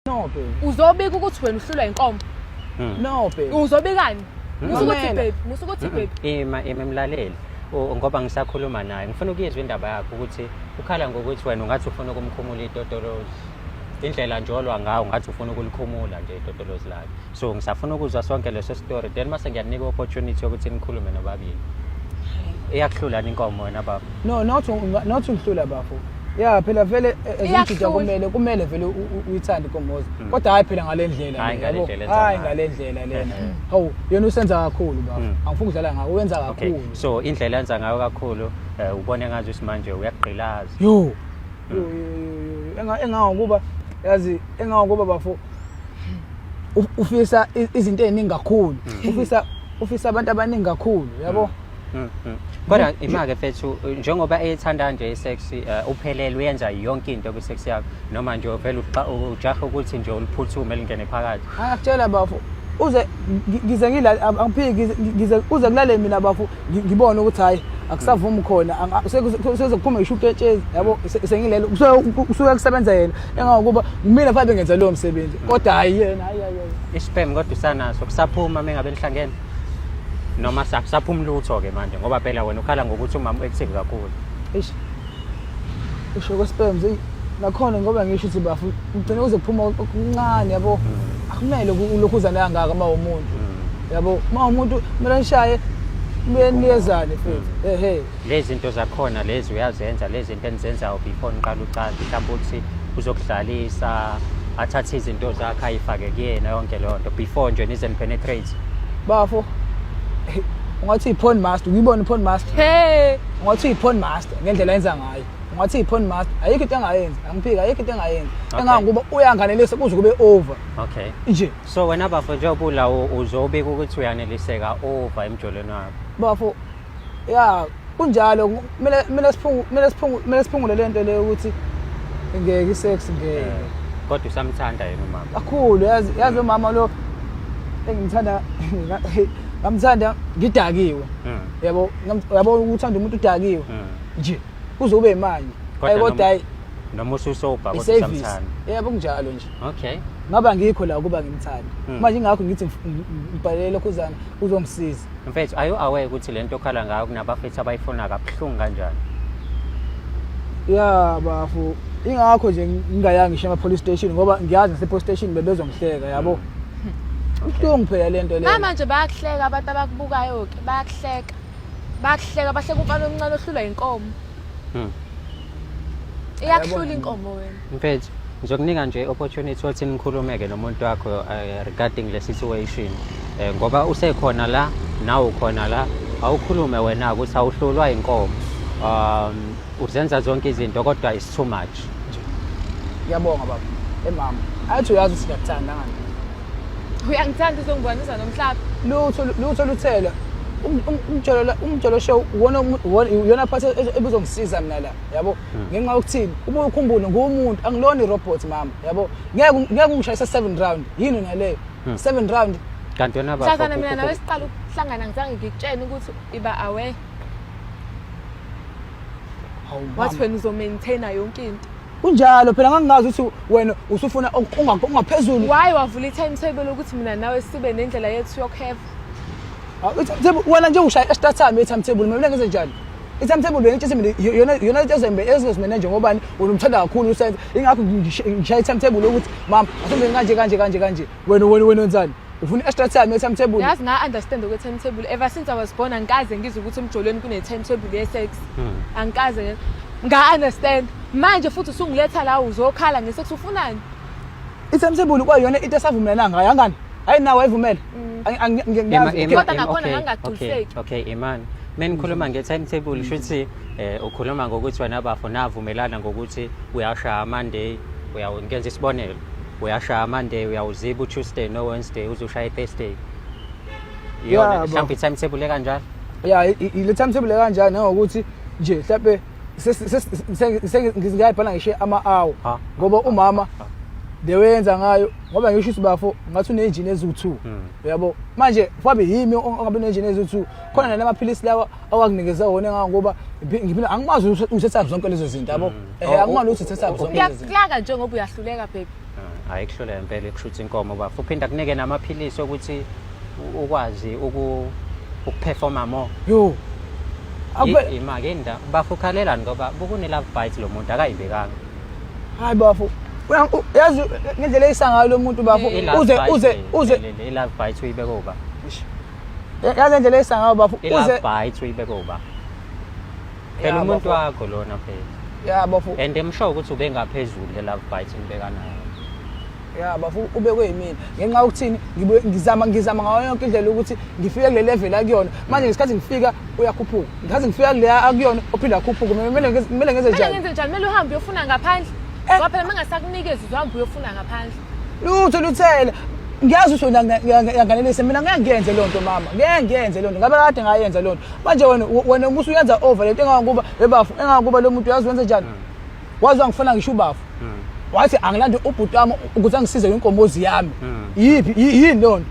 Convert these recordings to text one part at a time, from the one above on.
No baby. Uzobika ukuthi wena uhlulwa inkomo. Hmm. No baby. Uzobikani? Hmm. Musa ukuthi baby, musa ukuthi hmm. baby. Ima ima emlaleli. ngoba ngisakhuluma naye ngifuna ukuyezwa indaba yakhe ukuthi ukhala ngokuthi wena ungathi ufuna ukumkhumula itotolozi indlela nje olwa ngawo ngathi ufuna ukulikhumula nje itotolozi lakhe so ngisafuna ukuzwa sonke leso story then mase ngiyanika opportunity yokuthi nikhulume nobabili iyakuhlulani inkomo wena baba no not not ungihlula bafo ya phela vele eh, eh, ezimjida kumele kumele vele uyithande inkomozi hmm. kodwa hayi phela ngale ndlela hayi ngale ndlela lena hawu yena usenza kakhulu bafo hmm. angifuni ukudlala ngawo wenza kakhulu so indlela yenza ngayo kakhulu eh, ubone ngathi usimanje uyagqilaza yo hmm. engawo kuba yazi engawo kuba bafo ufisa izinto eziningi kakhulu mm. ufisa ufisa abantu abaningi kakhulu yabo mm, mm, kodwa imake fethu njengoba eyithanda nje isex eh, uphelele uyenza yonke into kwisex yakho noma nje vele ujaha ukuthi nje uliphuthume lingene phakathi akutshela bafo uze ngize ngila angiphiki ngize uze kulale mina bafo ngibone ukuthi hayi akusavumi khona sezokuphuma ngisho uketshezi yabo sengilelo kusuke kusebenza yena engakuba kumina fabe ngenza lowo msebenzi kodwa hayi yena hayi hayi isiphem kodwa usanaso kusaphuma mengabe nihlangene noma saphuma lutho ke manje ngoba phela wena ukhala ngokuthi umama u-active kakhulu eish usho kwesperms eyi nakhona ngoba ngisho ukuthi bafu ugcine uze kuphuma okuncane yabo mm. akumele ulokhu uzane kangaka uma umuntu mm. yabo uma umuntu kumele nishaye niyeniyezane mm. futhi ehe lezi zinto zakhona lezi uyazenza lezi zinto enizenzayo before niqala ucansi mhlawumbe ukuthi uzokudlalisa athathe izinto zakhe ayifake kuyena yonke leyo nto before nje nize nipenetrate bafo ungathi i-porn master ukuyibona i-porn master hey ungathi uyi-porn master ngendlela enza ngayo ungathi uyi-porn master ayikho into engayenzi angiphiki ayikho into engayenzi Okay. engangokuba uyanganelisa kuze kube over okay nje so wena bafo njengoba ula u- uzobika ukuthi uyaneliseka over emjolweni wakho bafo ya kunjalo kumele kumele siphungu kumele siphungu kumele siphungule le nto le ukuthi ngeke i-sex ngeke Eh, kodwa usamthanda yena umama kakhulu yazi yazi lo mama lo engimthanda ngamthanda ngidakiwe Mm. yabo yabo uthanda umuntu udakiwe mm. nje kuze ube imali ayi kodwa hayi noma ususobha kodwa samthanda yebo kunjalo nje okay ngaba ngikho la ukuba ngimthanda mm. manje ingakho ngithi ngibhalele khuzana uzongisiza mfethu ayo away ukuthi lento okhala ngayo kunabafethu abayifuna kabuhlungu kanjani ya bafu ingakho nje ngingayanga ngisho ema police station ngoba ngiyazi nase police station bebezongihleka yabo mm. ubuhlungu phela lento leyo manje bayakuhleka abantu abakubukayo bayakuhleka bayakuhleka bahleka umfana omncane ohlulwa inkomo Hmm. iyakuhlula inkomo wena Mfethu, ngizokunika nje opportunity ukuthi nikhulumeke nomuntu wakho eh, regarding le situation. Eh, ngoba usekhona la, nawe ukhona la, awukhulume wena ukuthi awuhlulwa inkomo. Um uzenza zonke izinto kodwa is too much. ngiyabonga baba emama athi uyazi ukuthi ngiyakuthanda ngani uyangithanda uzongibonisa nomhlaba lutho lutho luthela um, um, umjolo umjolo show wona yona part e-, ebuzongisiza mina la yabo hmm. ngenxa yokuthini uma ukhumbule ngumuntu angilona irobot mama yabo ngeke ngeke ungishayisa 7 round yini naleyo 7 hmm. round kanti yona baba mhlazana mina nawe siqala ukuhlangana ngizange ngikutshene ukuthi iba aware wathi wena uzomaintaina yonke into kunjalo phela ngangingazi ukuthi wena usufuna ungaphezulu waye wavula i-time table ukuthi mina nawe sibe nendlela yethu yokuheva wena nje ushaya esitatami i-time table mina ngenze njani i-time table wena itshise mina yona into ezozimena nje ngobani wena umthanda kakhulu usenza ingakho ngishaya i-time table yokuthi mama asembe kanje kanje kanje kanje wena wena wena wenzani ufuna i-extra time ye-timetable yazi nga-understand okwe-timetable ever since i was born angikaze ngizwe ukuthi emjolweni kune-timetable ye-sex hmm. angikaze nga-understand manje futhi usungiletha la uzokhala nge-sex ufunani i-timetable kwayona into esavumelana ngayo angani hayi nawe ayivumele mm. kodwa nakhona ngangagculiseki okay imani mina ngikhuluma nge-timetable kusho ukuthi um ukhuluma ngokuthi wena bafo navumelana ngokuthi uyashaya monday uyawengenza isibonelo uyashaya monday uyawuziba utuesday nowednesday uze ushaye thursday iyona Yeah, mhlawumbe i-timetable ekanjalo ya ile timetable kanjani nangokuthi nje mhlawumbe ngizingayibhala ngishe ama-hour Ha. ngoba umama the way yenza ngayo ngoba ngisho ukuthi bafo ngathi unenjini eziwu-two Hmm. uyabo manje mhlawumbe yimi ongabe unenjini eziwu-two khona nalamaphilisi lawa awanginikeza wona ngangoba ngiphila angimazi ukuthi uthetha zonke lezo zinto yabo mm. eh, oh, oh, angimazi ukuthi uthetha oh, zonke lezo zinto uyakulaka njengoba uyahluleka baby mm, hayi kuhluleka impela ekushutha inkomo bafu uphinda kunike namaphilisi okuthi ukwazi uku ukuperforma more yo imake nda bafu khalelani ngoba bukune love bite lo muntu akayibekanga hayi bafu yazi ngendlela eyisangayo lo muntu bafu uze uze uze i love bite uyibeka uba yazi indlela eyisa ngayo bafo uze i-last bite uyibeke uba phela umuntu wakho lona phela ya bafo and emsho ukuthi ube ngaphezulu le-love bite ngibeka nayo ya bafo ubekwe yimina ngenxa yokuthini ngizama ngizama ngayo yonke indlela ukuthi ngifike kule level akuyona manje ngesikhathi ngifika uyakhuphuka ngikhathi ngifika kule akuyona ophinde akhuphuke kumele ngenze njani kumele ngenze njani kumele uhambe uyofuna ngaphandle ngoba phela uma ngasakunikeza uzohambe uyofuna ngaphandle lutho luthela ngiyazi usho yanganelise mina ngeke ngiyenze loo nto mama ngeke ngiyenze loo nto ngabe kade ngayenza loo nto manje wena wena musa uyenza over le nto engangokuba ebafu engangokuba lo muntu uyazi wenze njani wazi wangifuna ngisho ubafu wathi angilande ubhuti wami ukuthi angisize ngenkomozi yami yiphi yini loo nto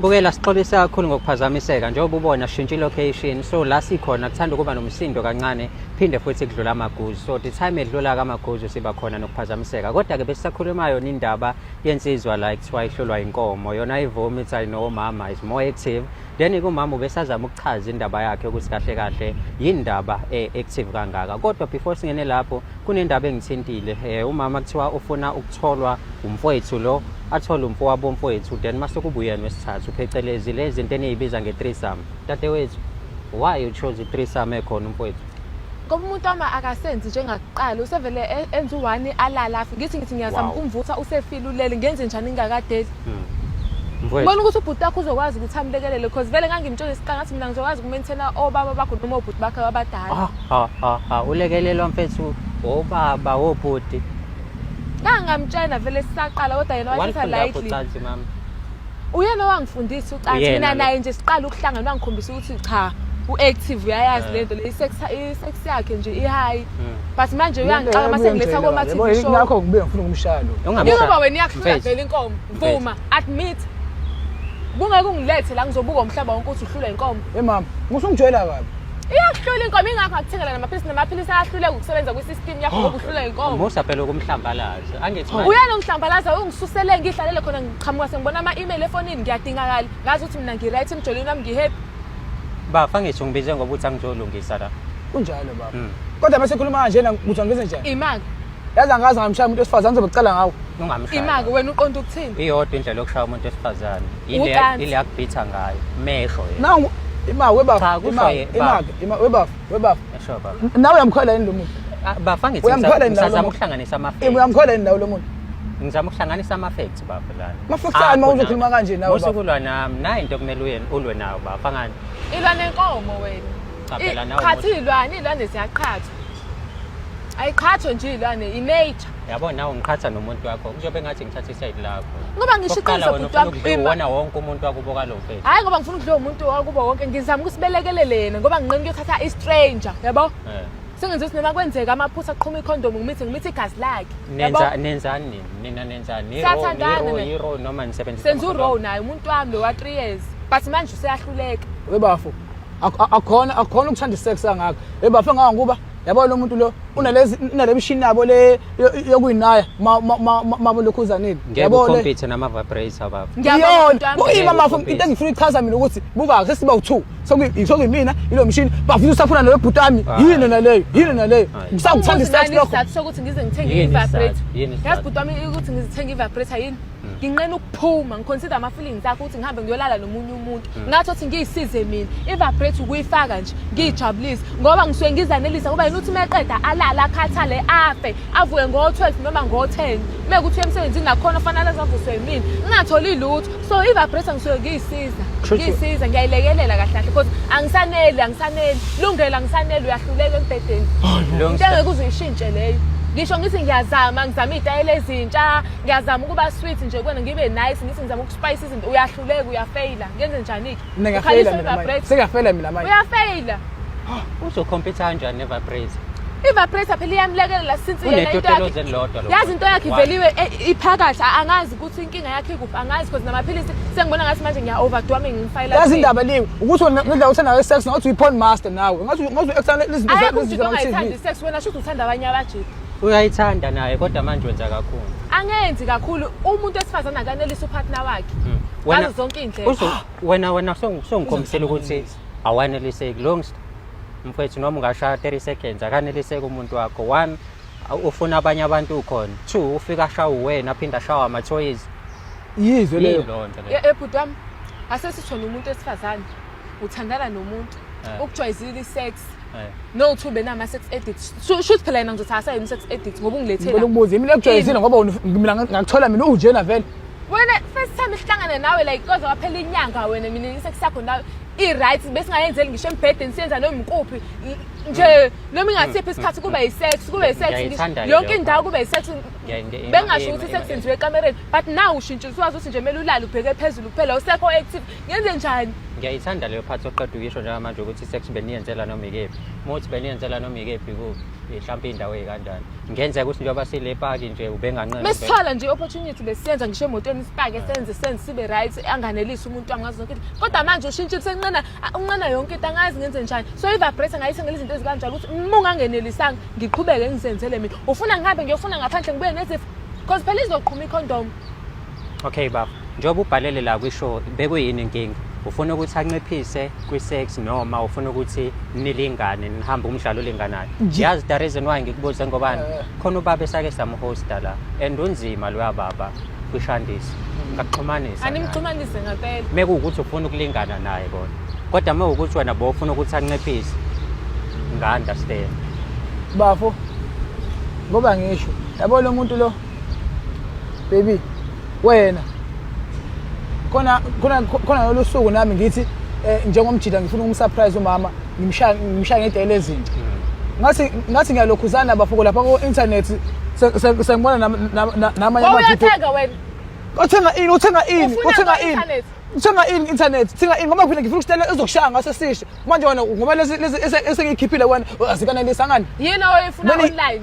Bukela sixolisa kakhulu ngokuphazamiseka njengoba ubona shintsha location so la sikhona kuthanda ukuba nomsindo kancane phinde futhi kudlula amaguzu so the time edlula kamaguzu siba khona nokuphazamiseka kodwa ke besisakhuluma yona indaba yensizwa la ekuthiwa ihlolwa inkomo yona ivumi ithi ayinowomama is more active then kumama ubesazama ukuchaza indaba yakhe ukuthi kahle kahle yindaba eh, active kangaka kodwa before singene lapho kunendaba engithintile eh, umama kuthiwa ufuna ukutholwa umfowethu lo athole umfowabo umfowethu then mase kubuyena wesithathu phecelezi lezi zinto eniyibiza nge-threesome dadewethu why you chose i-threesome ekhona umfowethu ngoba umuntu wami akasenzi njengakuqala usevele e- enza u-one alala afe ngithi ngithi ngiyazama Wow. ukumvutha usefile ulele ngenze njani ngingakadeli Mm. Mfowethu, bona ukuthi ubhuti wakho uzokwazi ukuthi amlekelele because vele ngangimtshela isiqala ngathi mina ngizokwazi ukumenthela obaba bakho noma obhuti bakho abadala ha ha ha ha ulekelelwa mfethu obaba wobhuti ngangamtshela vele sisaqala kodwa yena wathatha wanifunda lightly yaphucansi mama uyena owangifundisa ucansi Uyena mina lo. naye nje siqala ukuhlangana wangikhombisa ukuthi cha u-active uyayazi Eh. lento le i-sex i-sex yakhe nje i-high Mm. but manje uyangixaka uma sengiletha koma-tv show nakho ngibe ngifuna ukumshaya lo Ungamshaya. njengoba wena iyakuhlula Mfethu. vele inkomo vuma admit kungeke ungilethe la ngizobuka umhlaba wonke ukuthi uhlula inkomo e mama musungijwayela kabi iyakuhlula inkomo ingakho akuthengela namaphilisi namaphilisi ayahluleka ukusebenza kwi-system yakho ngoba uhlula inkomo Musa phela ukumhlambalaza. Angithi manje. uyena ungihlambalaza ungisusele ngihlalele khona qhamuka sengibona ama-email efonini ngiyadingakala ngazi ukuthi mina ngi-right emjoleni wami ngi-happy bafa ngisho ngibize ngoba uthi angijolungisa la kunjalo baba Mm. kodwa mase khuluma kanje na kuthi ngize njani imaki yazi angazi ngamshaya umuntu wesifazane ngizobe kucela ngawo ungamshaya imaki wena uqonda ukuthini iyodwa indlela yokushaya umuntu wesifazane Ucansi. ile yakubhitha ngayo mehlo yena nangu ima webafu Cha, kusho ima ye- ima baba. ima webafu webafu esho baba nawe uyamkhola yini lo muntu Ah, bafa ngithi Uyamkhola ngisa- yini lawo ngisazama lomuntu? ukuhlanganisa ama Ima uyamkhola yini nawe lo muntu ngizama ukuhlanganisa ama-facts bafo lana Ama-facts ani uma Akho uzokhuluma nami. kanje nawe, Musa bafo? ukulwa nami nayi into okumele uye- ulwe nawo bafo angani ilwa nenkomo wena Cha, I- phela nawe qhathi musa. iy'lwane iy'lwane ziyaqhathwa ayiqhathwe nje iy'lwane imeyja yabo nawe ngiqhatha nomuntu wakho kuzobe ngathi ngithatha isayidi lakho ngoba ngisho Okokuqala iqiniso wena bhuti ufuna wami ukudliwa ima uwona wonke umuntu wakubo kalo mfethu hhayi ngoba ngifuna ukudliwa umuntu wakubo wonke ngizama ukusibelekelele yena ngoba nginqeni kuyothatha i-stranger yabo Eh. Sengenza ukuthi noma kwenzeka amaphutha aqhuma ikhondomu ngimithe ngimithe igazi lakhe. Yabo? Nenza nenzani nini? Nina nenzani? Ni row, ni Siyathandana row, ne. ni row noma nisebenzisa Senza amakhondomu? urow naye umuntu wami lo wa 3 years. But manje useyahluleka. we bafo ak- ak- akhona akhona ukuthanda isex angaka we bafo engaka ngoba yabo lo muntu lo unalezi unale mshini yabo le yo- yokuyinaya ma- ma- ma- ma- mabo lokhuzaneni Ngeke ucompete nama-vibrator baba. Ngiyabonga Iyona, umuntu wami. kuyima Ngeke mafo ucompete. into engifuna ichaza mina ukuthi buka sesiba u2 sokuyimina ilo mshini bafuna usaphuna nawe bhutami ah. yini naleyo yini ah. naleyo ngisakuthanda isithathu lokho isizathu sokuthi ngize ngithenge Yini i-vibrator isizathu? Yini isizathu? yazi bhutami ukuthi ngizithenge i-vibrator yini hmm. nginqena ukuphuma ngiconsider ama-feelings akho ukuthi ngihambe ngiyolala nomunye umuntu hmm. ngathi othi ngiyisize mina i-vibrator ukuyifaka nje ngiyijabulise ngoba ngisuke ngizanelisa ngoba yini ukuthi uma eqeda alale akhathale afe avuke ngo-12 noma ngo-10 uma kuthi uye emsebenzini nakhona fanele azavuswe yimina ngingatholi lutho so i-vibrator ngisuke ngiyisiza ngiyisiza ngiyayilekelela kahle kahle because angisaneli angisaneli lungela angisaneli uyahluleka embhedeni into engeke uze uyishintshe leyo ngisho ngithi ngiyazama ngizama iy'tayela ezintsha ngiyazama ukuba sweet nje kwena ngibe nice ngithi ngizama ukuspayisa izinto uyahluleka uyafeyila ngenze njani-ke mina ngiyafeyila mina manje sengiyafeyila mina manje uyafeyila uzocompete kanjani nevaprate ivaprate phela iyamlekelela since yena into yakhe yazi into yakhe iveliwe eh, iphakathi angazi ukuthi inkinga yakhe ikuphi angazi because namaphilisi sengibona ngathi manje ngiya overdo ame ngifayela yazi indaba leyo ukuthi ngendlela uthanda sex ngathi uyi porn master nawe ngathi ngathi u extend izinto zakho izinto zakho sex wena shuthi uthanda abanye abajiki uyayithanda naye kodwa manje wenza kakhulu angenzi kakhulu umuntu wesifazane akanelisa upartner wakhe hmm. wena zonke indlela wena wena songikhombisela ukuthi awaneliseki long mfethu noma ungashaya 30 seconds akaneliseki umuntu wakho one ufuna abanye abantu ukhona two ufika ashawe uwena aphinde ashawe amathoyizi yizwe leyo ebhuti wami asesithona umuntu esifazane uthandana nomuntu Eh. ukujwayizile i-sex Eh. no two benama sex edit shuthi phela yena ngizothi asayini sex edit ngoba ungilethela ngicela ukubuza yimi lekujwayezile ngoba wena uf- mina nga- ngakuthola mina uwujena vele wena first time sihlangane nawe like koze waphela inyanga wena mina isex yakho nawe i-right besingayenzeli ngisho embhedeni siyenza noma ikuphi N- nje noma ingasiphi isikhathi kube yi-sex kube yi-sex ngisho- Ngiyayithanda yonke leyo. indawo kube yi-sex Ngiyayi- ngiyayi- bengasho ngiyayi- ukuthi isex ngiyayi- yenziwe ekamereni but now ushintshile usuwazi ukuthi nje kumele ulale ubheke phezulu kuphela usekho active ngenze njani ngiyayithanda leyo phathi oqeda ukuyisho njengamanje ukuthi sex beniyenzela noma ikephi uma uthi beniyenzela noma ikephi kuphi mhlawumpe indawo eyikanjani ngenzeka ukuthi njengoba sile paki nje ubenganqena mesithola nje i-opportunity besiyenza ngisho emotweni sipake senze senze sibe right anganelisi umuntu angazi zonke into kodwa manje ushintshile senqena unqena yonke into angazi ngenze njani so i-vibrate ngayithengela izinto ezikanjalo ukuthi uma ungangenelisanga ngiqhubeke ngizenzele mina ufuna ngihambe ngiyofuna ngaphandle ngibuye nezifo because phela izoqhuma ikhondomu Okay baba, njengoba ubhalele la kwisho bekuyini inkinga? Ufuna ukuthi anciphise kwi-sex noma ufuna ukuthi nilingane nihambe umdlalo olinganayo? Nje- Yazi the reason why ngikubuze ngobani? Eh. Khona ubaba esake samhosta la and unzima loya baba kwishandisi. Ngakuxhumanisa. naye. Animxhumanise ngempela. mekuwukuthi ufuna ukulingana naye kona kodwa uma ukuthi wena bo ufuna ukuthi anciphise nga-understand bafo ngoba ngisho yabo lo muntu lo baby wena khona khona khona lolu suku nami ngithi eh, njengomjida ngifuna ukumsurprise umama ngimshaya ngimshaya ngedele ezinto ngathi ngathi ngiyalokhuzana bafoko lapha ku internet sengibona namanye ama video uthenga wena uthenga ini uthenga ini uthenga ini uthenga ini internet thenga ini ngoba phela ngifuna ukutshela ezokushaya ngaso sisho manje wena ngoba lezi esengikhiphile wena azikanelisa ngani yini oyifuna online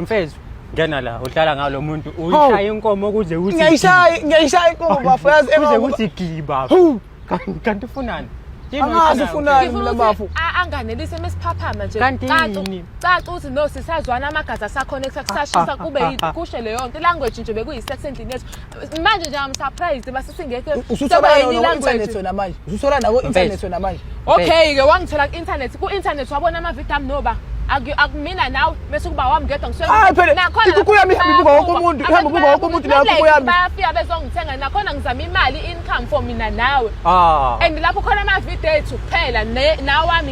mfethu ngena la uhlala ngalo muntu uyishaya inkomo kuze uthi ngiyayishaya ngiyayishaya inkomo bafo yazi kuze kuthi giba kanti ufunani angazi ufunani mina bafo anganelise mesiphaphama nje kanti caca uthi no sisazwana amagazi asakhona kusashisa kube kushe leyo nto language nje bekuyi sex endlini yethu manje nje am surprised mase singekho ususebenza no internet wena manje ususola nako internet wena manje okay ke wangithola ku internet ku internet wabona ama video am noba akumina nawe bese kuba wami ngedwa ngisuekuku yami ihamba ibuka wonke umuntu ihamba ibuka wonke umuntu nayo kuku yami bayafika bezongithenga nakhona ngizama imali income for mina nawe ah. and lapho khona ama video ethu kuphela nawami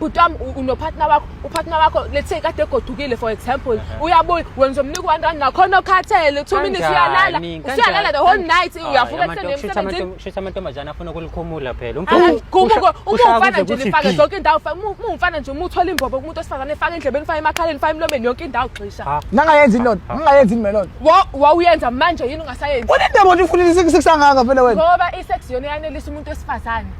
bhutam unopartner wakho upartner wakho let's say kade egodukile for example uyabuya wenza umnika one rand nakhona okhathele two minutes uyalala usuyalala the whole night uyavuka ekuseni amantombazane afuna ukulikhumula phela umfana nje lifake zonke indawo umfana nje uma uthola imbobo kumuntu wesifazane efake endlebeni fake emakhaleni fake emlomeni yonke indawo gxisha nangayenzi loo nto nangayenzi nime loo nto wawuyenza manje yini ungasayenzi unendaba nje ufunile sikusangaka phela wena ngoba isex yona yanelisa umuntu wesifazane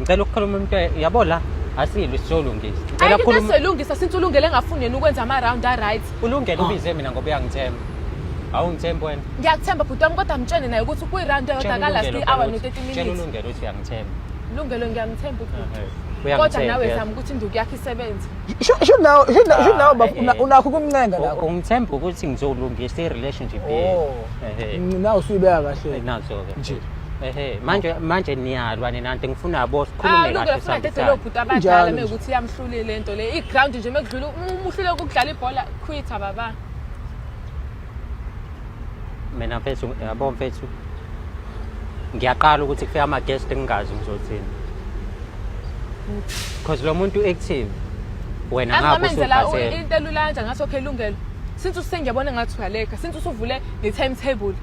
ngicela ukukhuluma umuntu yabo la asilwe sizolungisa ngicela ukukhuluma sizolungisa since ulungele ngafuni yena ukwenza ama round a right ulungele ah. ubize mina ngoba uyangithemba awungithembi wena ngiyakuthemba bhuti wami kodwa mtshene naye ukuthi kwi-round eyodwa kalast i-hour no-thirty minutes ulungele ukuthi uyangithemba lungelo ngiyamthemba ubhuti kodwa nawe zama ukuthi induku yakho isebenze sho nawe ah, unakho ukumncenga la ungithemba ukuthi ngizolungisa i-relationship yethu oh. nawe usuyibeka kahle nazo-ke nje ehe manje manje niyalwa nina nti ngifuna bo sikhulume kahle lungile funa dedolo bhuti abadala mekuthi iyamhlulile lento le iground nje mekudlula umuhlule ukudlala ibhola quita baba mina mfethu yabo mfethu ngiyaqala ukuthi kufika ama guest ngingazi ngizothini because lo muntu active wena ngakho usuphasela into elulanja ngathi okay lungelo since usengiyabona ngathi uyaleka since usuvule ne timetable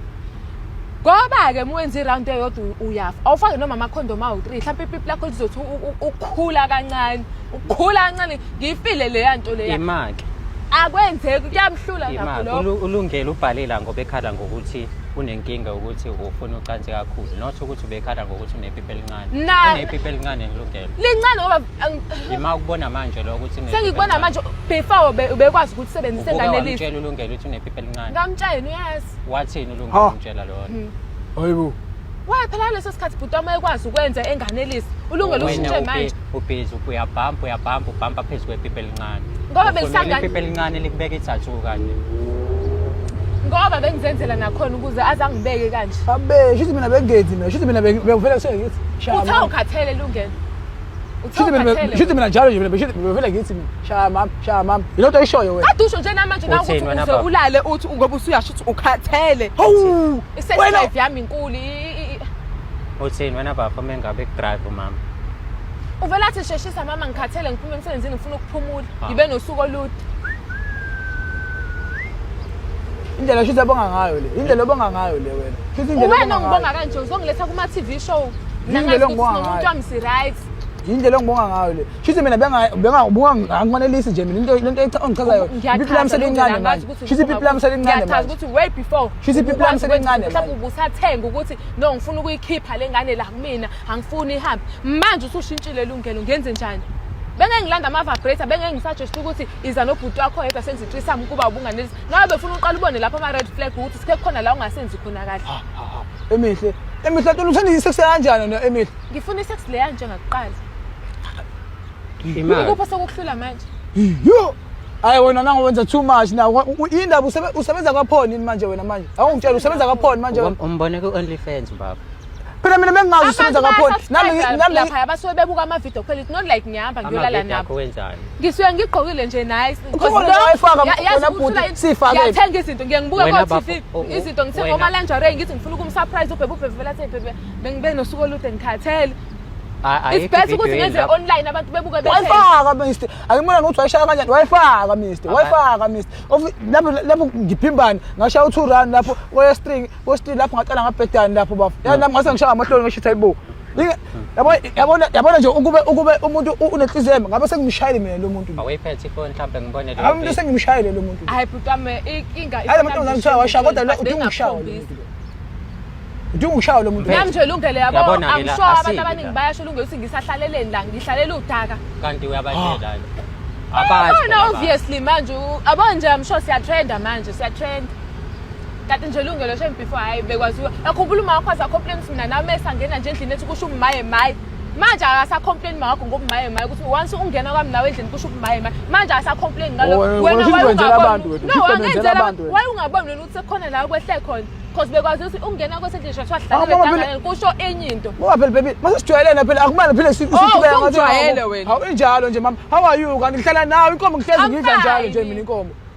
ngoba-ke uma wenza irawundi eyodwa uyafa awufake noma amakhondom awu-three mhlawumpe ipipi lakho lizothi ukukhula kancane ukukhula kancane ngiyifile leya nto leya imake akwenzeki kuyamhlula nakho lokho ulungele ubhalela ngoba ekhala ngokuthi unenkinga ukuthi ufuna ucansi kakhulu not ukuthi ubekhala ngokuthi unepipi elincane unepipi elincane ngilungele lincane ngoba yima ukubona manje lo ukuthi sengikubona manje before ubekwazi ukuthi usebenzise enganelisi ulungele ukuthi unepipi elincane ngamtshela uyazi wathini ulunga Ha. umtshela lona hayibo Why phela leso sikhathi bhuti wami ekwazi ukwenza enganelisi. Ulungele ushintshe Wena manje. ubi- ubhizi uyabhampa uyabhampa ubhampa phezu kwepipi elincane Ngoba Ufunela belisangane- ipipi elincane likubeka ithathu kanje Ngoba bengizenzela nakhona ukuze azangibeke kanje. abe shithi mina bengenzi mina shithi mina bengivele kusengithi Uthi awukhathele lungelo. Shithi mina Uthawukhathele. shithi mina njalo nje mina shithi bevele ngithi mina shaya mama shaya mama yilento oyishoyo wena Kade usho nje namanje nawe Uthini ukuthi wena uze baba? ulale uthi ngoba usuyasho ukuthi ukhathele. hawu I-sex wena life yami inkulu. i- i- i- Uthini wena bafo mengabe kudrive umama. Uvela athi sheshisa mama ngikhathele ngiphume emsebenzini ngifuna ukuphumula. Ah. Ngibe nosuku olude. indlela shithi abonga ngayo le indlela obonga ngayo le wena shithi indlela Uwena obonga ngayo. ongibonga kanje uzongiletha kuma TV show. Nangaz kunomuntu ongisiryt yindlela engibonga ngayo le shuthi mina bengangifanelisi nje mina lento ongichazayo ipipi lami selincane manje shuthi ipipi lami selincane manje ukuthi way before shuthi ipipi lami selincane mhlawumbe ubusathenga ukuthi no ngifuna ukuyikhipha le ngane la kumina angifuni ihambe manje usushintshile lungelo ngenze njani bengengilanda ama-vibrator bengengisajeshisa ukuthi iza nobhuti wakho yedwa senze itrisam ukuba ubunganelisa Ngabe befuna uqala ubone lapha ama red flag ukuthi sike khona la ungasenzi khona kahle. Ha ha ha. Emihle. Emihle tona uthanda isex kanjani wena Emihle? Ngifuna isex le kanje ngakuqala. Imali. Ukupha sokuhlula manje. Yo. Hayi wena nangu wenza too much na indaba usebenza kwaphoni manje wena manje. Awungitshela usebenza kwaphoni manje. Umbone ku OnlyFans baba. phela mina bengingazi usebenza ngakhona namilaphaya basuke bebuka amavidiyo kuphela it's not like ngihamba ngiyolala nabo ngisuke ngigqokile nje nice ngiyathenga izinto ngiye ngibuke ko-tv izinto ngithenga omalanjare ngithi ngifuna ukumsurprise ubhebe ubhebe vela athi bhebe bengibe nosuku olude ngikhathele it's best ukuthi ngenze online abantu bebuke wayifaka mister angimona nokuthi wayishaya kanjani wayifaka mister wayifaka mister lapho ngiphimbani ngashaya u-two run lapho kweye string Post lapho ngaqala ngabhedani lapho bafo. Yani nami ngase ngishaya amahloni ngisho ukuthi hayibo. Yabona yabona yabona nje ukube ukube umuntu unenhliziyo yami ngabe sengimshayile mina lo muntu. Awuyiphethe ifoni mhlawumbe ngibone lo. Abantu sengimshayile lo muntu. Hayi bhutame inkinga. Hayi manje ngizangishawa washa kodwa lo udinga ukushawa. Udinga ukushawa lo muntu. Nami nje lungele yabo angisho abantu abaningi bayasho lungele ukuthi ngisahlaleleni la ngihlalela udaka. Kanti uyabatshela lo. Abazi. Obviously manje abanje I'm sure siyatrenda manje siyatrenda. kade nje lungelo shem before hayi bekwaziwa akhumbula uma wakho asacomplain ukuthi mina nami esangena nje endlini ethi kusho umaye maye manje akasacomplain mawakho ngobumaye maye ukuthi once ungena kwami nawe endlini kusho ubumaye maye manje akasacomplain ngaloko oh, wena wayungaboni wena ukuthi sekukhona la kwehle khona because bekwazi ukuthi ungena kwesendlini shosho wahlala kusho enye into ngoba phela baby mase sijwayelene phela akumane phela sibeka ngathi wena hawu injalo nje mama how are you kanti ngihlala nawe inkomo ngihlezi ngidla njalo nje mina inkomo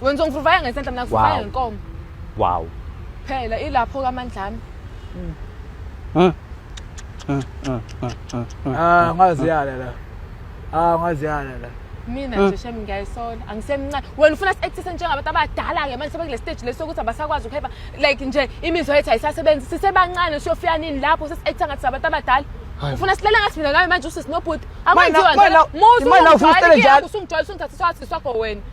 wena uzongivuvaya ngesandla mina ngivuvaya Wow. ngenkomo wow phela ilapho kamandlami Ah ngaziyala la. Ah ngaziyala la. mina nje shem ngiyayisola angisemncane wena ufuna si-actise njengabantu abadala-ke manje sebekule stage lesi sokuthi abasakwazi ukuheba like nje imizwa yethu ayisasebenzi sisebancane siyofika nini lapho sesi-acta ngathi sabantu abadala ufuna silele ngathi mina ngayo manje usisinobhuti akwenziwa Manje, manje, manje, ufuna usilele njalo. usungijwayela usungithatha swathi sakho wena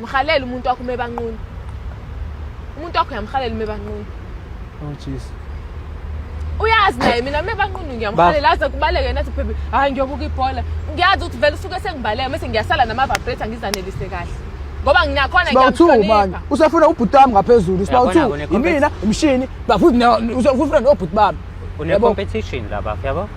Mhalela umuntu wakho uma ebanqunu. Umuntu wakho uyamhalela uma ebanqunu. Oh jeez. Uyazi naye mina uma ebanqunu ngiyamhalela aze kubaleke nathi baby hayi ngiyobuka ibhola. Ngiyazi ukuthi vele usuke sengibaleka mase ngiyasala nama vibrator ngizanelise kahle. Ngoba nginakhona ngiyamhlonipha. Usafuna ubhuti wami ngaphezulu. Sibawu 2 yimina umshini bafuthi usafuna nobhuti bami. Une competition la bafo, ya bafo.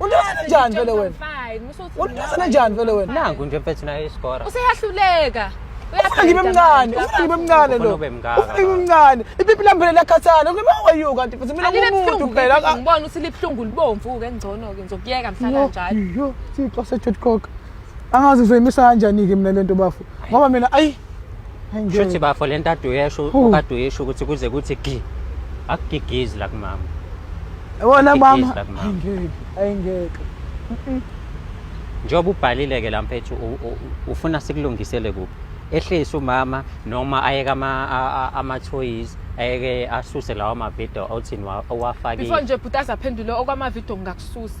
Unithwasa kanjani vele wena? Unithwasa kanjani vele wena? Nangu nje mfethu naye iskora. Useyahluleka. Ufuna ngibe mncane, ufuna ngibe mncane lo. Ufuna ngibe mncane. Ipipi lami phela liyakhathala. Kuba wayo kanti futhi mina ngumuntu phela. Ngibona ukuthi libuhlungu libomvu ke ngcono ke ngizokuyeka mhlala njalo. Yo, sixo se-Jodcock. angazi ngizoyimisa kanjani-ke mina le nto bafo ngoba mina ayi shuthi bafo le nto ade uyesho kade uyesho ukuthi kuze kuthi gi akugigizi la kumama wona mama ayingeke ayingeke njengoba ubhalile-ke la mphethu ufuna sikulungisele kuphi ehlise umama noma ayeke amathoyizi ayeke asuse lawo mavidiyo othini owafakile before nje bhuti azaphendule okwamavidiyo ngingakususa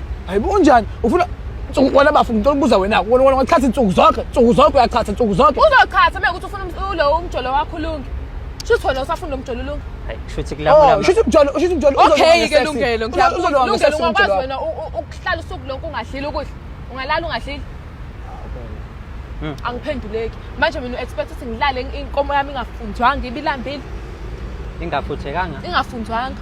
hayibo unjani ufuna nsuku wena bafu ngicela ukubuza wena wena wena wachatha insuku zonke nsuku zonke uyachatha nsuku zonke uzochatha uma ukuthi ufuna um- ulo umjolo wakho ulunge shuthi wena usafuna umjolo ulunge Hayi, kushuthi kula oh kula- shuthi umjolo shuthi umjolo okay ke lungelo uzolwa ngilungelo ngesesi ungakwazi umjolo wena u- u- ukuhlala usuku lonke ungadlile ukudla ungalala ungadlile Mm. angiphenduleki manje mina u-expect ukuthi ngilale inkomo yami ingafunzwanga ibilambile ingafuthekanga ingafunzwanga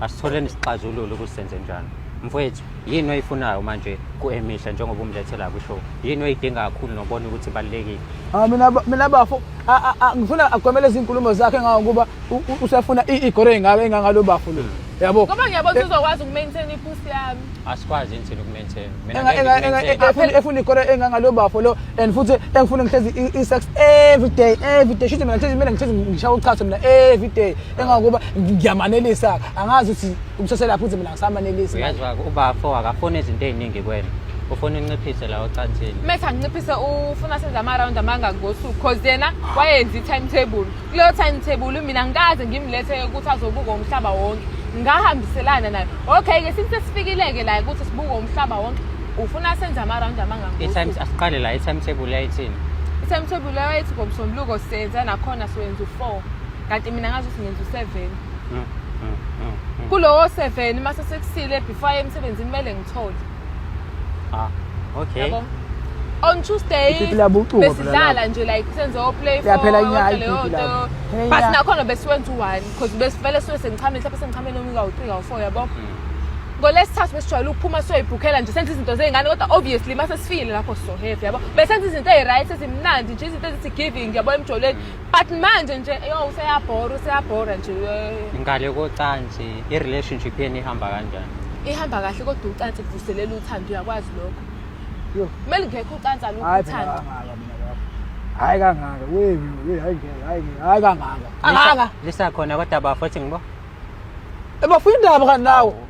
asitholeni isixazululo ukuthi senze njani mfowethu yini oyifunayo manje ku-emihle njengoba umlethela kwishow yini oyidinga kakhulu nobona ukuthi ibalulekile Ah, mina ba- mina bafo a- a- a- ngifuna agomele izinkulumo zakhe ngawo ngoba u- u- usefuna i- igore engaka engangalo bafo lo yabo Ngoba ngiyabona ukuthi uzokwazi ukumaintain ipusi yami. asikwazi yini thina ukumaintain mina Enga- ngeke enga- enga- ngi-maintain. enga- efuna- efuna ikoro engangalo bafo lo and futhi engifuna ngihlezi i- i-sex every day every day shuthi mina ngihlezi mina ngihlezi ngishawa uchaso mina every day engangokuba ngiyamanelisa angazi ukuthi umseselaphi ukuthi mina ngisamanelisa uyazi wa- ubafo akafuni izinto ey'ningi kwena ufuna unciphise la ocansini mese anginciphise ufuna senze ama-round amangaki ngosuku cause yena wayenza i-timetable kuleyo timetable mina ngikaze ngimlethe ukuthi azobuka umhlaba wonke ngahambiselana nayo okay ke since sifikile-ke la ukuthi sibuke umhlaba wonke ufuna senze ama-round amangangitimes asiqale la i-timetable yayithini i-timetable leyo yayithi ngomsombuluko senza nakhona siwenza u-four kanti mina ngazi ukuthi ngenza u-seven mm, mm, mm, kulowo seven uma sesekusile before emsebenzini kumele ngithole Ah, okay. Yabo? On Tuesday Ipipi labucubo phela besidlala lapho. nje like senze o play for Liyaphela inyanga yonke leyo ipipi nto. lapho. Phela But inyanga. nakhona besiwenza u-one because besivele siwe sengichame mhlawumbe sengichame noma ikawu-three kawu-four yabo ngolesithathu besijwayele ukuphuma siyoyibhukhela nje senza izinto zey'ngane kodwa obviously uma sesifile lapho sizohevi yabo besenza izinto eyi-right ezimnandi nje izinto ezithi giving yabo emjolweni but manje nje yo useyabhora useyabhora nje ngale kocansi i-relationship yenu ihamba kanjani ihamba kahle kodwa ucansi kuvuselela uthando uyakwazi lokho yo kumele ngekho ucansi alukho uthando hayi kangaka wewe hayi ngeke hayi ngeke hayi kangaka kangaka lisakhona kodwa bafo ethi ngibo ebafuna indaba kanti nawo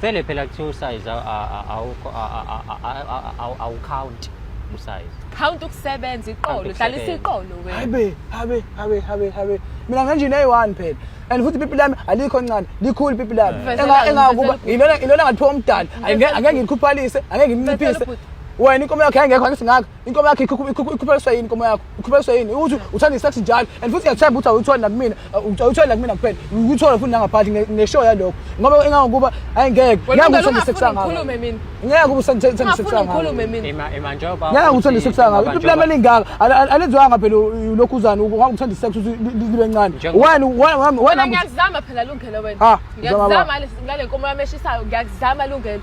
Vele phela kuthiwa usize awukhawunti usize. Count ukusebenza iqolo, Count dlalisa ukusebenza. iqolo wena. Habe, habe, habe, habe, habe. Mina nganjini eyi-one phela. And futhi ipipi lami alikho ncane, likhulu ipipi lami. Mfezela- Enga- Engakuba mfezela- ilona ilona ngalithiwa umdali. Angeke Mfezela- angeke ngilikhuphalise, angeke ngilinciphise. Mfezela ubhuti. Wena inkomo yakho yayingekho angithi ngakho. inkomo yakho ikhuphaliswa yini inkomo yakho ikhuphaliswa yini ukuthi uthanda isex njalo and futhi ngiyathemba ukuthi awuyitholi nakumina awuyitholi nakumina kuphela uyithola futhi nangaphathi ngeshow yalokho ngoba engangokuba ayi ngeke ngeke uthanda isex ngakho ngeke uba uthanda isex ngakho ngeke uthanda isex ngakho iplama elingaka alenziwanga phela ulokhu uzani ngoba uthanda isex ukuthi libe ncane wani wani wani ngiyazama phela lungelo wena ngiyazama ngale nkomo yami eshisayo ngiyazama lungelo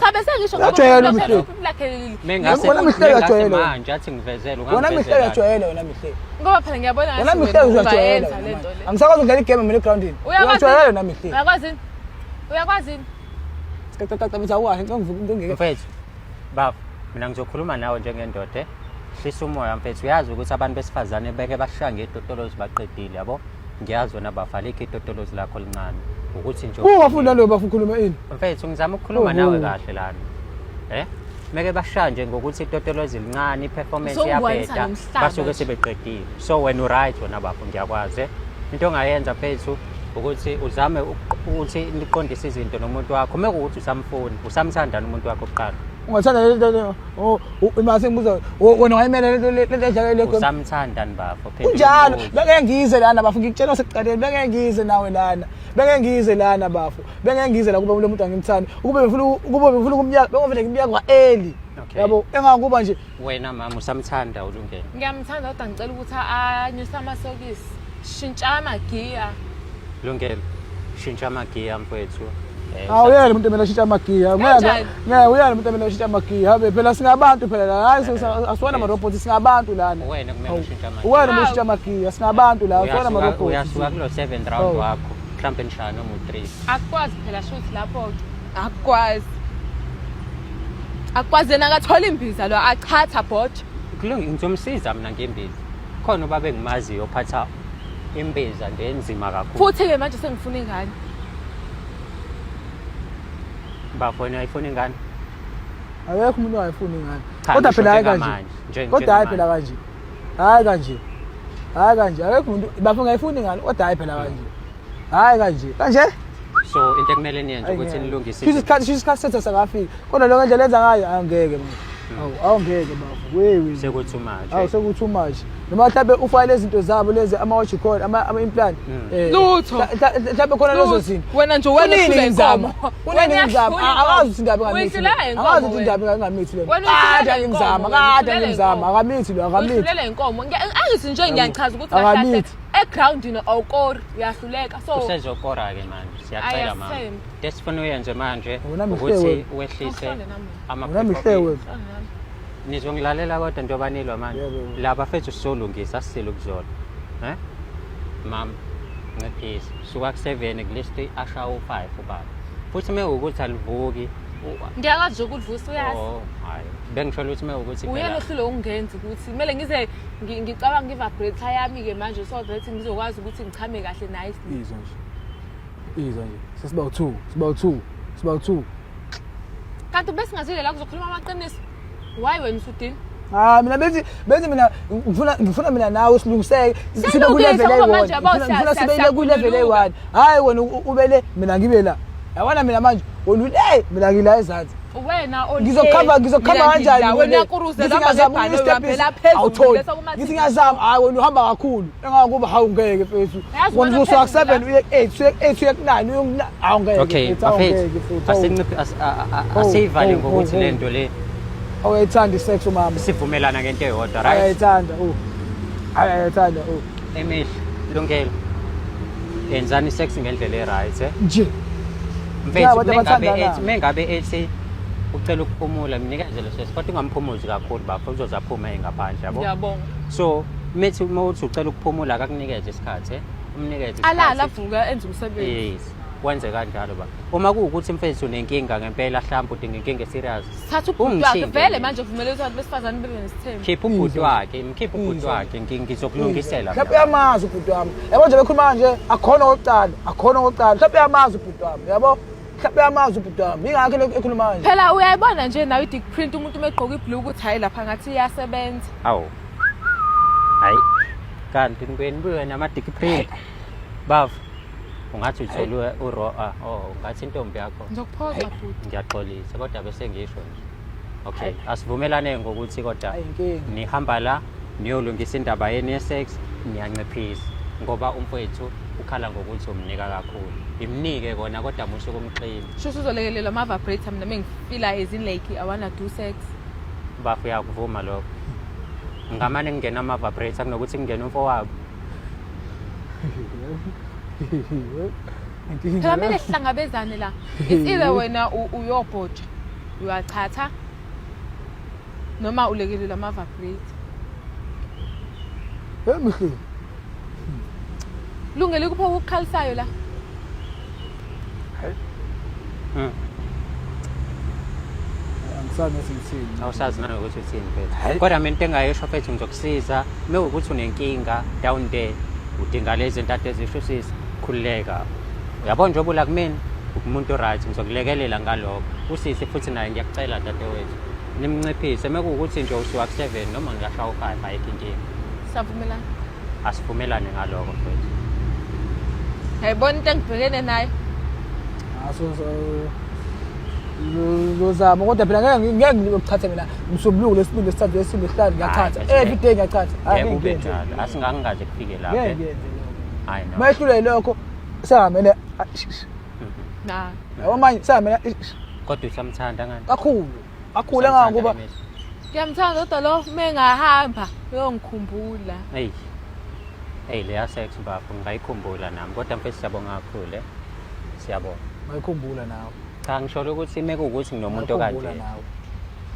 Cha bese ngisho Ngajwayela uMhlengi. lakhe Mengase Wena mhleka mengase jwayele. manje athi ngivezele wona mihle ungangivezela. uyajwayele wena mihle ngoba phela ngiyabona wena ngathi mihle wena uyajwayele ungayenza le nto le. angisakwazi ukudlala igame mina egroundini Uyakwazi- uyajwayele wena mihle Uyakwazi yini? Uyakwazi yini? cacacacabisa uwahe ngeke Mfethu, baba, mina ngizokhuluma nawe njengendoda. eh? Hlisa umoya mfethu, uyazi ukuthi abantu besifazane beke bashaya ngetotolozi baqedile yabo. ngiyazi wena bafalekho itotolozi lakho lincane ukuthi nje ungafunda leyo bafu ukhuluma ini mfethu ngizama ukukhuluma nawe kahle lana eh meke bashaya nje ngokuthi itotolozi lincane i-performance iyabheda basuke sebeqedile so wena uright wena bafo ngiyakwazi eh? into ongayenza mfethu ukuthi uzame ukuthi niqondise izinto nomuntu wakho uma kuwukuthi usamfuni usamthandana umuntu wakho kuqala ungathanda lento Oh, uma sengibuza wena wayimele lento lento edlala le goli. Usamthanda ni bafo. Kunjalo, beke ngize lana bafo ngikutshela sekuqaleni beke ngize nawe lana. Beke ngize lana bafo. Beke ngize la kuba lo muntu angimthandi. Ukube befuna ukube befuna kumnyaka, beke ngifuna kumnyaka kwa early. yabo engakuba nje wena mama usamthanda ulungele ngiyamthanda kodwa ngicela ukuthi anyuse amasokisi Shintsha amagiya. Lungelo. Shintsha amagiya mfethu. Eh, Awu yena umuntu emele ashintshe amagiya. Ngeke Kanjani? ngeke uyena umuntu emele ashintshe amagiya. Habe phela singabantu phela la. Hayi sisa- asiwona ama robot singabantu lana. Wena kumele Awu. ushintshe amagiya. Uwena umuntu ushintsha amagiya singabantu la. Asiwona ama Uyasuka- robot. Uyasuka kulo 7 round Oh. wakho. Mhlambe nishaya noma u3. Akukwazi phela shuthi lapho ke. Akukwazi. Akukwazi yena akathola imbiza lo achatha bot. Kulungi ngizomsiza mina ngembiza. khona ubaba engimaziyo ophatha imbiza nje enzima kakhulu futhi-ke manje sengifuna ingane bafoni ayifuni ingane akekho umuntu ongayifuni ingane Cha, kodwa ngisho phela hayi kanje njengamanje, nje- kodwa hayi phela njengamanje. kanje hayi kanje akekho kanje akekho umuntu bafo ngayifuni ingane kodwa hayi phela kanje hayi kanje kanje so into ekumele niyenze ukuthi nilungise kusho isikhathi kusho isikhathi sethu sakafika kodwa lokho nje lenza ngayo angeke manje awu awungeke bafo wewe sekuthi manje awu sekuthi manje noma mhlawumbe ufake lezi zinto zabo lezi ama-watch call ama-implant hmm. eh, lutho mhlawumbe khona lezo zinto wena nje wena uhlula inkomo kunini ngizama akazi ukuthi indaba ingamithi akazi ukuthi indaba ingamithi le kade angimzama kade angimzama akamithi lo akamithi uhlulele inkomo angithi nje ngiyachaza ukuthi akamithi egroundini awukori uyahluleka so usezokora-ke manje siyacela mama Ayathemba. into esifuna uyenze manje Wena mhlewe. ukuthi wehlise Awuhlale nami. ama Wena mhlewe. Awuhlale nami. nizongilalela kodwa njengoba nilwa manje Yebo. la bafethu sizolungisa sisile ukuzona um mama nciphisa suka ku-seven kulisti asha u-five ubaba futhi uma ukuthi alivuki u- ngiyakwazi nje ukudvusa uyazi oh, hhayi bengisholo ukuthi uma ukuthi uyena phela- ohlule ukungenzi ukuthi kumele ngize ngicabanga ngivabrate yami-ke manje so that ngizokwazi ukuthi ngichame kahle nice izwa nje izwa nje sesiba u-two siba u-two siba u-two kanti besingazile la kuzokhuluma amaqiniso why wena usudini Ah mina benzi benzi mina ngifuna ngifuna mina nawe silungiseke sibe ku level eyi-one ngifuna sibe ile ku level eyi-one hayi wena ubele mina ngibe la yabona mina manje wena ule mina ngila ezansi wena ngizokhava ngizokhava kanjani awutholi ngithi ngiyazama hayi wena uhamba kakhulu engakuba hawu ngeke mfethu wena usuka ku-seven uye ku-eight uye ku-eight uye ku-nine uye ku-nine hawu ngeke asiyivale ngokuthi le nto le awuyayithanda i-sex umama sivumelana ngento eyodwa right ayayithanda u ayayithanda u emihle lungelo yenzani i-sex ngendlela e-right eh? nje Mfethu Abantu mengabe abathandanayo. ethi mengabe ethi ucela ukuphumula mnikeze leso sikhathi kodwa ungamphumuzi kakhulu bafo uzoze aphume ngaphandle yabo. Ngiyabonga. So methi uma uthi ucela ukuphumula akakunikeze isikhathi eh? umnikeze Alala isikhathi. avuka enze umsebenzi. Yes. Wenze kanjalo ba. Uma kuwukuthi mfethu unenkinga ngempela mhlawumbe udinga inkinga serious thatha ubhuti wakhe Ungithinta vele mina. manje vumele ukuthi abantu besifazane bebe nesithembu khipha ubhuti wakhe mkhipha ubhuti wakhe ngi- ngizokulungisela mhlawumbe uyamazi ubhuti wami yabo nje bekhuluma kanje akhona okokuqala akhona okokuqala mhlawumbe uyamazi ubhuti wami yabo mhlawumbe uyamazi ubhuti wami yingakho lokhu ekhuluma kanje phela uyayibona nje nawe i-dick print umuntu uma egqoka ibhlu ukuthi hhayi lapha ngathi iyasebenza awu hayi kanti nibuye nibuye namadiki print bava ungathi uthelwe uro a oh ungathi intombi yakho ngizokuphoxa futhi ngiyaxolisa kodwa bese ngisho nje okay asivumelane ngokuthi kodwa nihamba la niyolungisa indaba yenu ye-sex niyanciphisa ngoba umfowethu ukhala ngokuthi umnika kakhulu imnike kona kodwa musho kumxini sho usuzolekelelwa ama-vibrator mina mengifila ezinlake awana do sex bafo uyakuvuma lokho ngamane kungena ama-vibrator kunokuthi kungena umfowabo phela kumele sihlangabezane la it's either wena uyobhoja uyachatha noma ulekelela ama-vibrate emhleni lungele kuphi okukhalisayo la angisazi ukuthi ngithini awusazi nawe ukuthi uthini mfethu kodwa mina into engayisho mfethu ngizokusiza uma ukuthi unenkinga down there udinga lezi ntathu ezisho usisi khululeka uyabona njengoba ula kumina umuntu right ngizokulekelela ngalokho usisi futhi naye ngiyakucela dadewethu nimnciphise uma kuwukuthi nje usuwa ku-seven noma ngiyashaya u-five ayikho inkinga savumelana asivumelane ngaloko mfethu yayibona into engibhekene nayo aso lozama kodwa phela ngeke ngeke ngikuthathe mina msombuluko lesibili lesithathu lesibili lesihlanu ngiyachatha every day ngiyachatha ngeke ube njalo asingangikaze kufike lapho ngeke ngiyenze lokho hayi no mayehlule lokho sehamele na yabo manje sehamele kodwa usamthanda ngani kakhulu Akhule kangangokuba Ngiyamthanda kodwa lo mengahamba uyongikhumbula. Hey. Hey leya sex bafo ngayikhumbula nami kodwa mfethu siyabonga kakhulu. Eh. Siyabonga. Ngayikhumbula nawe. Cha ngisholo ukuthi mekuwukuthi nginomuntu okanje.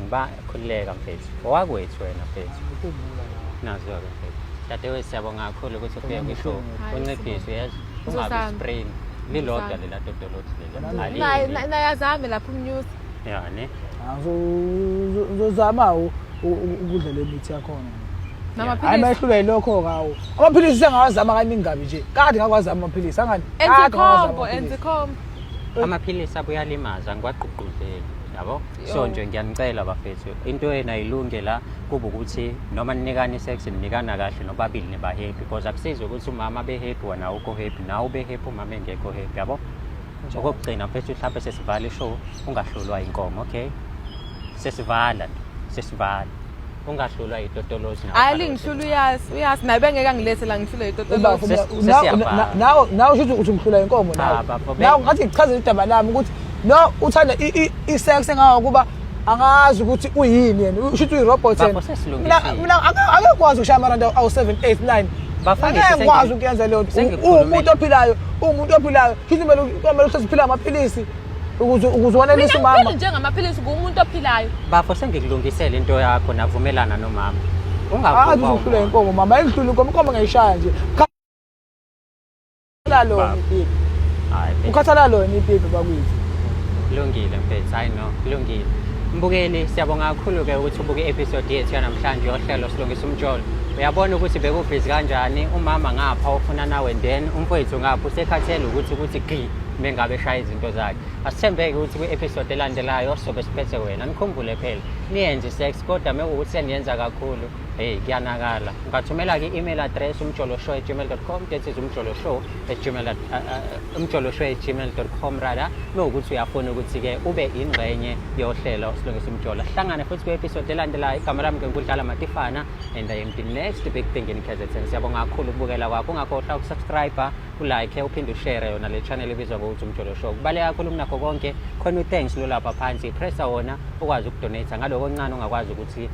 Ngiba khulileka mfethu. Owakwethu wena mfethu. Ngikhumbula nawe. Nazo ke mfethu. Dadewethu siyabonga kakhulu ukuthi ufike kwishow. Unciphise yazi. Ungabi spring. Lilodwa lela dodolothi lela. Naye azame lapha umnyusi. yani uzozama-ke ukudla le mithi yakhona hayi mayehlula yilokho kawo amaphilisi sengawazama kaningi kabi nje kade ngakwazama amaphilisi angani amaphilisi abuyalimaza ngiwagqugquzeli yabo so nje ngiyanicela bafethu into yena ilunge la kuba ukuthi noma ninikani sex ninikana kahle nobabili niba happy because akusizi ukuthi umama be happy wena awukho happy nawe ube happy umama engekho happy yabo okokugcina mfethu mhlawumbe sesivala ishow ungahlulwa inkomo okay sesivala nje sesivala ungahlulwa yitotolozi nawe. hayi lingihlula uyazi uyazi naye bengeke angilethe la ngihlule yitotolozi Ubafo, Ses- na- na- sesiyabhala. na- nawe nawe usho ukuthi uthi ngihlula inkomo Ah, nawe bafo, be- nawe ngathi ngichazela udaba lami ukuthi no uthanda i- i- i-sex engangokuba angazi ukuthi uyini yena usho ukuthi uyi-robot yena mina angekwazi ukushaya amarandi awu-7 8 9 angekwazi ukuyenza leyo nto uwumuntu ophilayo uwumuntu ophilayo shuthi kumele ukuthi siphila amaphilisi ukuze ukuze wanelise umama mina njengamaphilisi ngumuntu ophilayo bafo sengikulungisele into yakho navumelana nomama ungakuba uzohlula inkomo mama ayidlule inkomo inkomo ngayishaya nje Ukhathala lona ipipi. Hayi. Ukhathala lona ipipi bakwethu. Kulungile mfethu, hayi no, kulungile. Mbukeli, siyabonga kakhulu-ke ukuthi ubuke i-episode yethu yanamhlanje yohlelo silungisa umjolo. Uyabona ukuthi bekubhizi kanjani, umama ngapha ofuna nawe then umfowethu ngapha usekhathele ukuthi ukuthi gqi mengabe eshaya izinto zakhe. Asithembeke ukuthi kwi-episode elandelayo sobe siphethe wena. Nikhumbule phela, niyenze i-sex kodwa mekuwukuthi seniyenza kakhulu, Hey, kuyanakala. Ungathumela-ke i-email address umjoloshow at gmail.com that is umjoloshow at gmail uh, uh, umjoloshow at gmail.com rather mewukuthi uyafuna ukuthi-ke ube ingxenye yohlelo silungisa umjola hlangane futhi kwi-episode elandelayo igama lami ngenkudlala matifana and i am the next big thing in kzn siyabonga kakhulu ukubukela kwakho ungakhohlwa ukusubscribe ulike uphinde ushare yona le channel ebizwa ngokuthi umjolo show kubaleka kakhulu kunakho konke khona u-thanks lolapha phansi pressa wona ukwazi ukudonate ngaloko ncane ongakwazi ukuthi